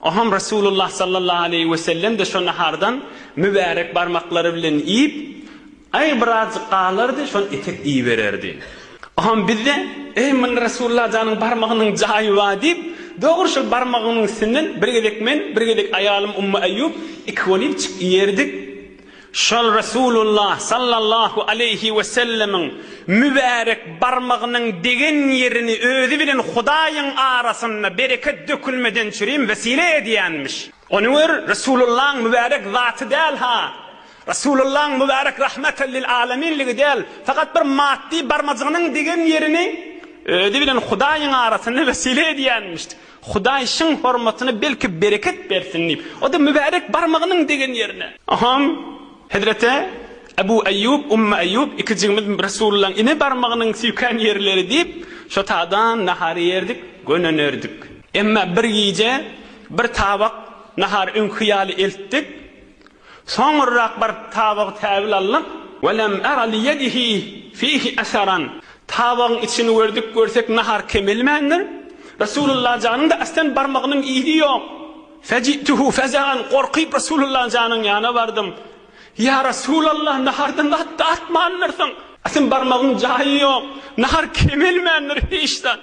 Oňham Resulullah sallallahu aleýhi we sellem-de şo nahardan mübärek barmaklary bilen iýip, Aý, birazjyk galardy, şony etek iýibererdi. Oňham biz-de, Eý, munda Resulullah janyň barmagynyň jaýy bar diýip, dogry şol barmagynyň üstünden bir gezek men, bir gezek aýalym Ummu Eýýup iki gol iýipjik iýerdik. Şol Resulullah sallallahu aleýhi wesellemiň mübärek barmagynyň degen ýerini özi bilen Hudaýyň arasyna bereket dökülmeden çürim wesile edýänmiş. Ony gör, Resulullahyň mübärek zaty däl-ha, Resulullahyň mübärek rahmeten lil aleminligi däl, fakat bir maddy barmajygynyň degen ýerini özi bilen Hudaýyň arasyna wesile edýänmiş. Hudaý şyň hormatyna belki bereket bersin diýip, o-da mübärek barmagynyň degen ýerine. Hom, hezreti Ebu Eýýub, Ummu Eýýub ikijigimiz Resulyllaň ine barmagynyň süýken ýerleri diýip, şo taýdan nahar iýerdik, gönenerdik. Emma bir gije bir tabak nahar öňki ýaly eltdik. Soňurrak bir tabagy täbil aldyk. Ve lem era li yedihi fihi eseran. Tabagyň içini gördik, görsek nahar kemelmändir. Resulullah janyň-da astan barmagynyň yzy ýok. Feji'tuhu fezaen, gorkyp Resulullah janyň ýana bardym. Ýa Resulallah, nahardan zat-da atmandyrsyň. Astan barmagyň jaýy ýok, nahar kemelmändir hiç zat.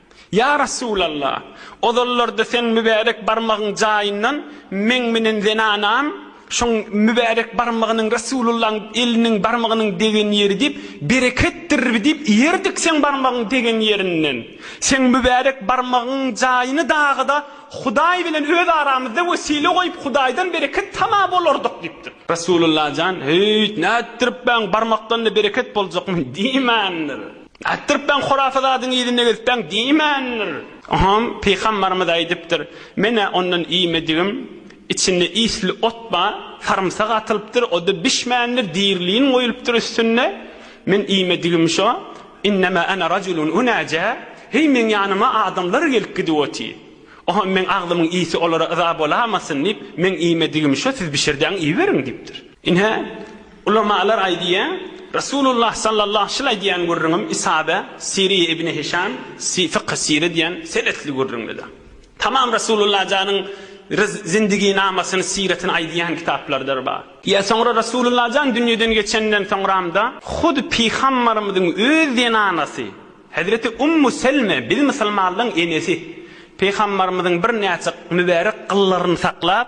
Ýa Resulalla! Ozallarda seň mübärek barmagyň jaýyndan meň menen zenanam şoň mübärek barmagynyň Resulullaň eliniň barmagynyň degen ýeri diýip, bereketdir diýip iýerdik seň barmagyň degen ýerinden. Seň mübärek barmagyň jaýyny dagyda Hudaý bilen öz aramyzda wesile goýup Hudaýdan bereket tama bolardyk diýipdir. Resululla jan, Höýt, nätdirip, mäň barmakdan-da bereket boljakmy? diýmändir. Aýtdyrypbaň hurafa zadyň yzynda gezipbaň diýmändir. Oňam Pygambarymyz aýdypdyr, Men-ä ondan iýmedigim, içinde isli ot bar, sarymsak atylypdyr, o-da bişmändir, diri lin goýulupdyr üstünde, men iýmedigim şo, Innema ana rajulun unaja, Heý meň ýanyma adamlar gelip gidip otyr. Oňam meň agzymyň isi olara yza bolamasyn diýip, meň iýmedigim şo, siz bişirdiň iýiberiň diýipdir. Ine, Ulamalar aýdýar, Resulullah sallallahu şyl aýdýan gürrüňim Isada, Siriýe ibni Hişam, Fykhy Sire diýen senesli gürrüňdedir. Tamam Resulullah janyň ryz, zindigynamasyny, siretini aýdýan kitaplardyr bar. Ýa soňra Resulullah jan dünýeden geçenden soňramda hut Pygambarymyzyň öz zenanasy Hezreti Ummu Selme, biz musulmanlaň enesi, Pygambarymyzyň birnäçe mübärek gyllaryny saklap,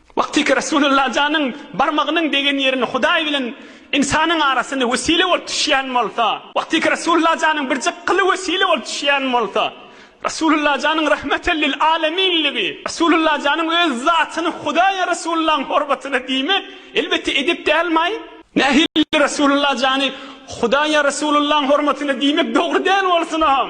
Wagtyky Resulullah janyň barmagynyň degen ýerini Hudaý bilen ynsanyň arasyny wesile bolup düşýän bolsa, wagtyky Resulullah janyň birjik gyly wesile bolup düşýän bolsa, Resulullah janyň rahmeten lil aleminligi, Resulullah janyň öz zatyny Hudaýa Resulullahyň horbatyna diýmek, elbetde edep dälmaý? Nähili Resulullah jany Hudaýa Resulullahyň hormatyna diýmek dogry däl bolsunam?